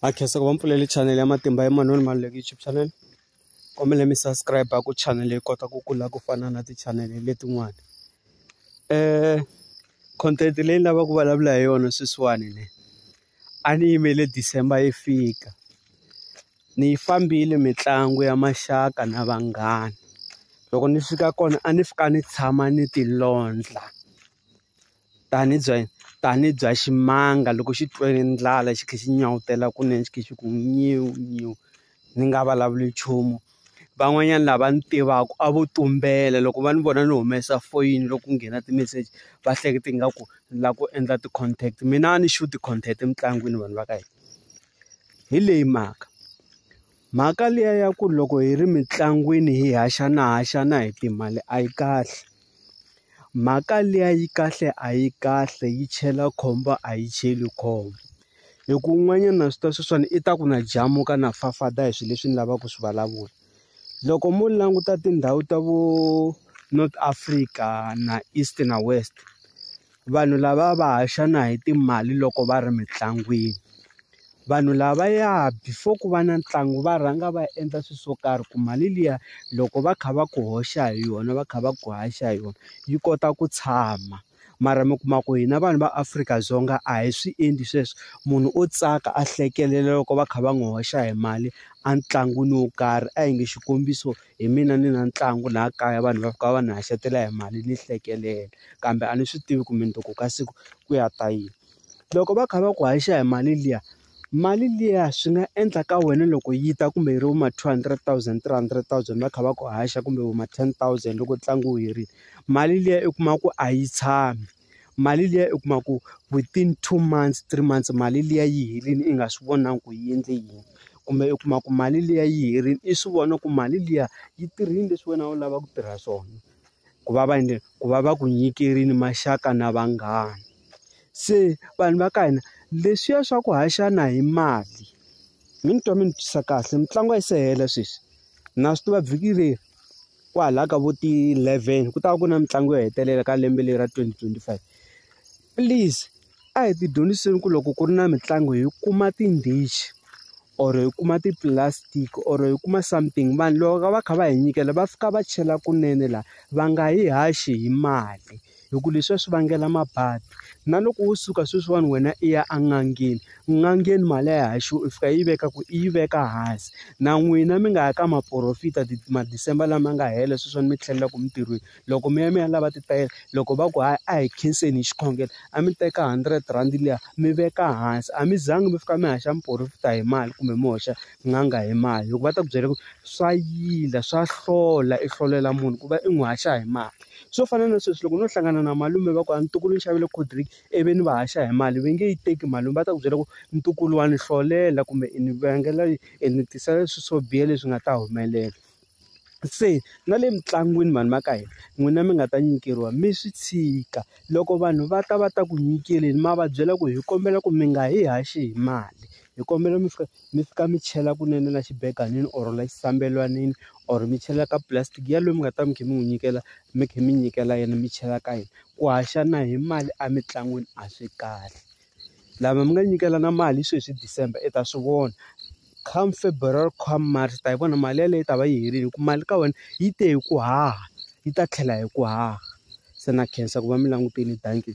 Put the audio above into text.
ha khensa ku va mpfuleli channel ya matimba ya manoni maluleki youtube channel kombele mi subscribe ku channel yi kota ku kula ku fana na ti-channel letin'wana um content leyi ni lavaka ku vulavula hi yona sweswiwani ne a ni yimele december yi fika ni yi fambile mitlangu ya maxaka na vanghana loko ni fika kona a ni fika ni tshama ni tilondla. tani bya tani bya ximanga loko xi twe ndlala xi tlhe xi nyawutela kunene xi tlhe xi ku nyiwu nyiwu ni nga vulavuli nchumu van'wanyana lava ni tivaku a vo tumbela loko va ni vona ni humesa foyini loko ku nghena ti-message va hleketa ingaku ni la ku endla ti-contact mina a ni sure ti-contact emitlangwini vanhu va ka hina hi leyi mhaka Mhaka liya ya ku loko hi ri mitlangwini hi haxana haxana hi timali a yi kahle. Mhaka liya yi kahle a yi kahle yi chela khombo a yi cheli khombo. Hi ku un'wanyana swi ta sweswiwani i ta ku na jamu ka na fafada hi swilo leswi ni lavaka ku swi vulavula. Loko mo languta tindhawu ta vo North Africa na East na West. vanhu lava va haxa na hi timali loko va ri mitlangwini. Vanhu lava ya before ku va na ntlangu va rhanga va endla swilo swo karhi ku mali liya loko va kha va ku hoxa hi yona va kha va ku haxa hi yona, yi kota ku tshama. Mara mi kuma ku hina vanhu va Afrika-Dzonga a hi swi endli sweswo, munhu o tsaka a hlekelela loko va kha va n'wi hoxa hi mali entlangwini wo karhi. A hi nge xikombiso hi mina ni na ntlangu laha kaya vanhu va fika va ni haxela hi mali ni hlekelela. kambe a ni swi tivi ku mundzuku ka siku ku ya ta yini. Loko va kha va ku haxa hi mali liya, mali liya swi nga endla ka wena loko yi ta kumbe yi ri va ma two hundred thousand, three hundred thousand va kha va ku haxa kumbe va ma ten thousand loko ntlangu wu herile. Mali liya u kuma ku a yi tshami, mali liya u kuma ku within two months, three months mali liya yi helile i nga swi vonangi ku yi endle yini. Kumbe u kuma ku mali liya yi herile i swi vona ku mali liya yi tirhile leswi wena a wu lava ku tirha swona. ku va va endle ku va va ku nyikerile maxaka na vanghana. Se vanhu va ka hina leswiya swa ku haxana hi mali, mi ni twa mi ni twisa kahle mitlangu a yi se hela sweswi. Na swi tiva vhiki leri kwalaya ka vo ti-eleven ku ta va ku na mitlangu yo hetelela ka lembe leri ra twenty twenty five. Please a hi ti dyondziseni ku loko ku ri na mitlangu hi kuma tindichi or hi kuma ti-plastic or hi kuma something vanhu loko va kha va hi nyikela va fika va chela kunene la va nga yi haxi hi mali hi ku leswiya swi vangela mabadi na loko wo suka sweswiwani wena i ya en'angeni n'angeni mali a yi haxiwi u fika yi veka ku i yi veka hansi na n'wina mi nga ya ka maporofita ma-December lama nga hela sweswiwani mi tlhelelaka emintirhweni loko mi ya mi ya lava titayere loko va ku hayi a hi khenseni hi xikhongelo a mi teka hundred rand liya mi veka hansi a mi zangi mi fika mi haxa muporofeta hi mali kumbe mi hoxa n'anga hi mali loko va ta ku byela ku swa yila swa hlola i hlolela munhu ku va i n'wi haxa hi mali swo fana na sweswi loko no hlangana na malume va ku a ntukulu ni xavele cold drink i vi ni va haxa hi mali va nge yi teki mali lomu va ta ku byela ku ntukulu wa ni hlolela kumbe i ni vangela i ni tisela leswi swo biha leswi nga ta humelela. Se na le mitlangwini vanhu va ka hina n'wina mi nga ta nyikeriwa mi swi tshika. Loko vanhu va ta va ta ku nyikeleni ma va byela ku hi kombela ku mi nga hi haxi hi mali, hi kombela mi fika mi fika mi chela kunene na xibeganini or la xisambelwanini or mi chela ka pulasitiki ya loyi mi nga ta va mi kha mi n'wi nyikela mi kha mi nyikela yena mi chela ka yena. Ku haxana hi mali emitlangwini a swi kahle. Lava mi nga nyikelana mali sweswi hi December i ta swi vona come February come March u ta yi vona mali yeleyo yi ta va yi herile hi ku mali ka wena yi te hi ku haha yi ta tlhela hi ku haha se na khensa ku va mi langutile dankie.